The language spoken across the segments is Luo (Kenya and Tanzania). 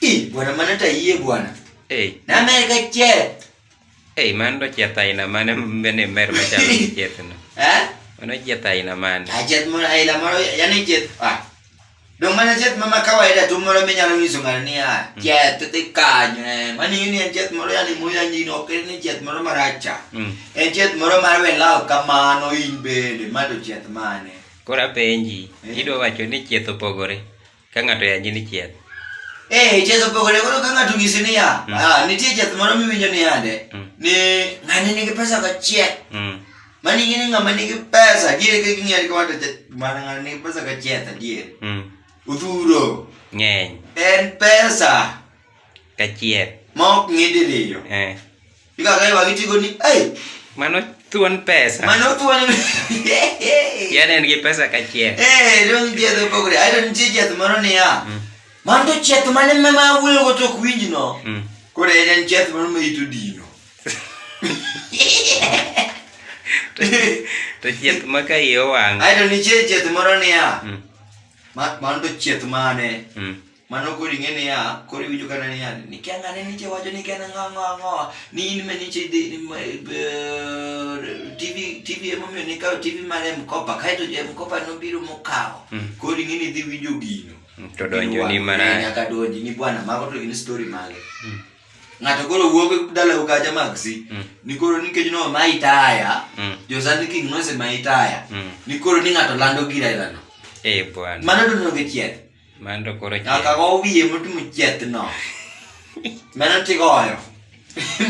Ih, bwana maana hata yeye bwana. Eh. Na Amerika che. Eh, maana ndo cheta ina maana mbene mer macha cheta na. Eh? Ono cheta ina maana. Ah, chet mo ila maro yani chet. Ah. Dong mana chet mama kawaida tu moro menya lo nyiso ngara ni ah. Mm. Chet te kanyo eh. Mani yuni en chet moro yani mo yani no kere ni chet moro maracha. Mm. En chet moro mar we lao kamano in bende mato chet mane. Kora penji, eh. idwa wacho ni chet opogore. Ka ng'ato yanyi ni chieth. Eh, ichezo pogore koro ka ng'ato ng'isi niya, Mm. ah, nitie jeth moro miwinjo ni yande Mm. ni ng'ani nigi pesa ka chieth. Mm. Mani ing'e ni ng'ama nigi pesa adier ka ging'eyo ni kama to jeth mana ng'ani nigi pesa ka chieth adier. Mm. Odhuro Ng'eny. en pesa Ka chieth. ma ok ng'e diriyo. Eh. Ikakae wakitigo ni, hey! Mano thuon pesa. Mano thuon. Yaani en gi pesa kachiel. Eh, dong jedho pogre. Ai don chi jedho moro ni ya. Mm. Man to chet mane me ma wuyo go tok winji no. Mm. Kore en chet moro me itu dino. To chet ma ka iyo wang. Ai don chi chet moro ni ya. Mm. Man to chet mane. Mm. Mano koro ing'e niya, koro iwinjo kana niya, nikia ng'ane niche wacho ni ken ang'o ang'o ang'o, ni in me niche idhi TV TV emomiyo nikawo TV mar M-Kopa, kaeto jo M-Kopa nobiro mokawo. Koro ing'e ni idhi winjo gino. To donjo ni marach. Nyaka donji ni bwana, mago to gin story mage. Ng'ato koro wuok dalau kacha magsi, ni koro nikech no ma itaya, jo Sunday King nose ma itaya, ni koro ni ng'ato lando gir ailano. Eh bwana. Mano to nonge chieth. Mando koro chien. Nyaka go wiye motimo chieth no. Mano tigoyo.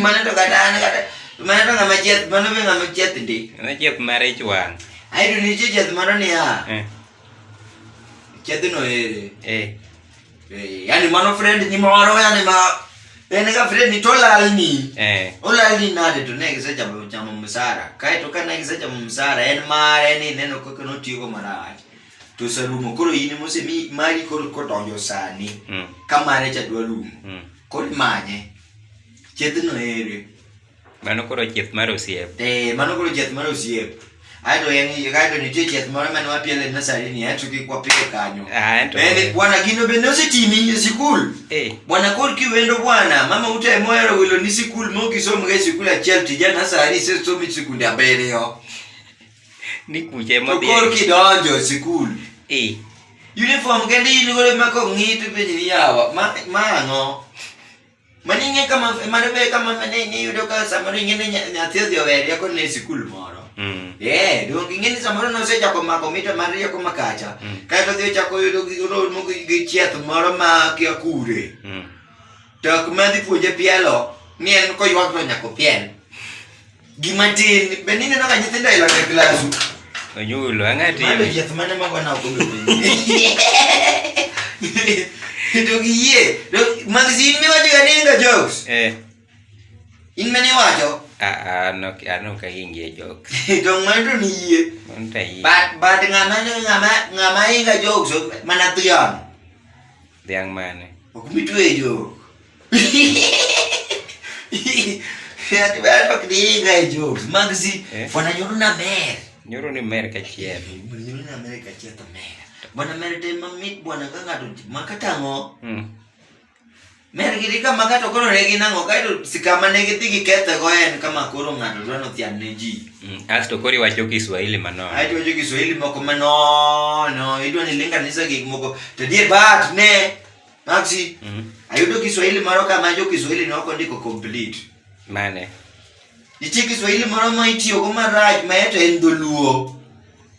Mano to kata an kata mano to ng'ama chieth mano be ng'ama chieth ndi. Mano chieth mar ich wang'. Ae to nitie chieth moro niya. Eh. Chieth no ere. Eh. Eh, yani mano friend ni moro yani ma en ga friend ni to lal ni. Eh. Olal ni nade to ne gise chamo chamo msara. Kae to ka ne gise chamo msara en mare ni neno kaka notiyo marach. to osarumo koro in mose mi mari koro kodonjo sani mm. ka mare cha dwa rumo mm. koro imanye chiethno ere mano koro chieth mar osiep eh mano koro chieth mar osiep ato en kato nitie chieth moro mane wapiele e nasari ni ato kik wapile kanyo ah, bende bwana gino bende osetimi e sikul eh. bwana kor kiwendo bwana mama ute mohero wilo ni sikul mokisom ga e sikul achiel tija nasari isesomi sikunde abiriyo Ni kucha ema To dhi. kor kidonjo e sikul. Eh. Uniform kende in godo ma kong'i to penji ni yawa. Ma ma ang'o? Mani ing'e kama mano be kama ne ne yudo ka samoro ing'e ni nya- nyathi odhi owe rieko ne sikul moro. Mm. Eh, donge ing'e ni samoro nosechako mako mita mar rieko makacha. Mm. Kae to odhi ochako yudo gi romo gi gi chieth moro ma kia kure. Mm. Dak ma dhi puonje pielo ni en koywak to nyako piel. Gima tin, be ni neno ka nyithindo ilo e klasu. Onyulo ang'ati. Mano yath mane mago na okodo. To giye, magazine mi wacho ga ninga jokes. Eh. In mane wacho? Ah ah no ano ka ingie jokes. To ng'ato ni yie. Manta yie. But but ng'ama ng'ama ng'ama inga jokes mana thion. Dhiang' mane? Ok mitwejo. Ati ber ok diinga e jokes. Magzi, Eh? fwana nyoro na mer. Nyoro ni mer kachiel. Fwana nyoro na mer kachiel to mer. Bwana mer te mamit bwana ka ng'ato makatang'o. Mm. Mer gidi ka makato koro ne ginang'o kaeto sikama ne gidhi gikethe go en kama koro ng'ato dwa nothian ne ji. Mm, asto kori wacho Kiswahili manono. Ai wacho Kiswahili moko manono. Idwa ni linga nisa gik moko. To die bat ne Maxi. Mm -hmm. Ayudo Kiswahili moro kama jo Kiswahili noko ndiko complete. Mane. Nitie Kiswahili moro ma itiyo go marach ma eto en dholuo.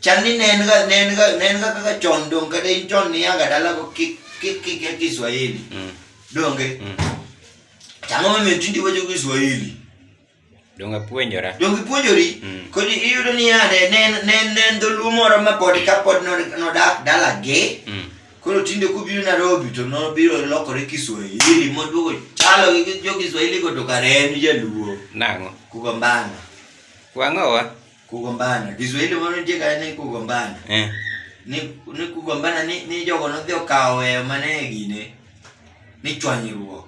Chal ni ne en ga ne en ga ne en ga kaka chon dong kata in chon ni anga dala go ki ki ki ki Kiswahili. Mm. Donge. Mm. Chamo mimi tindi wacho Kiswahili. Donge apuonjora? Donge ipuonjori? Mm. Koni iyudo ni yande ne ne ne dholuo moro ma pod ka pod nodak dala ge. Mm. Koro tinde kubiro Nairobi to nobiro lokore Kiswahili moduogo chalo gi jo Kiswahili go to kare en jaluo. Nang'o? Kugombana. Wang'owa? Kugombana. Kiswahili moro nitie kare ni kugombana. Eh. Ni ni kugombana ni ni jogo nodhi okawo weyo mane gine ni chwanyruok.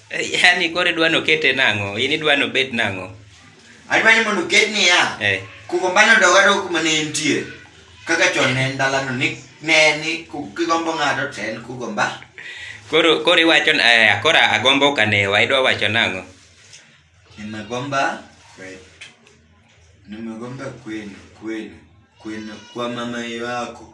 Yaani koro idwa nokete nang'o? In idwa nobed nang'o? Adwa ni mondo oket niya. Eh. Kugombano dog adog kuma ne entie. Kaka chon ne en dalano ni ne ni ku- kigombo ng'ato to en kugomba. Koro koro iwacho na- eh, koro agombo kanewa idwa wacho nang'o? Nimegomba kwetu. Nimegomba kwenu, kwenu. Kwenu kwa mama yako.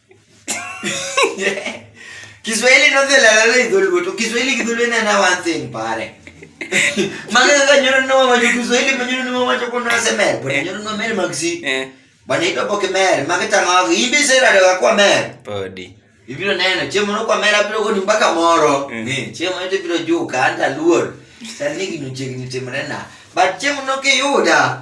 Kiswahili no se la la idhuluwe to Kiswahili kidhuluwe na na one thing pare. Maka ka nyoro no ma Kiswahili ma nyoro no ma choko na se mer, but nyoro no mer magsi. Eh. Bana ito poke mer, maka tanga ibi se la la kwa mer. Podi. Ibiro neno chiemo no kwa mer abiro goni mpaka moro. Eh. Ni chiemo ito biro juu ka anda luor. Sani ginu chegni timre na. But chiemo no ke yuda.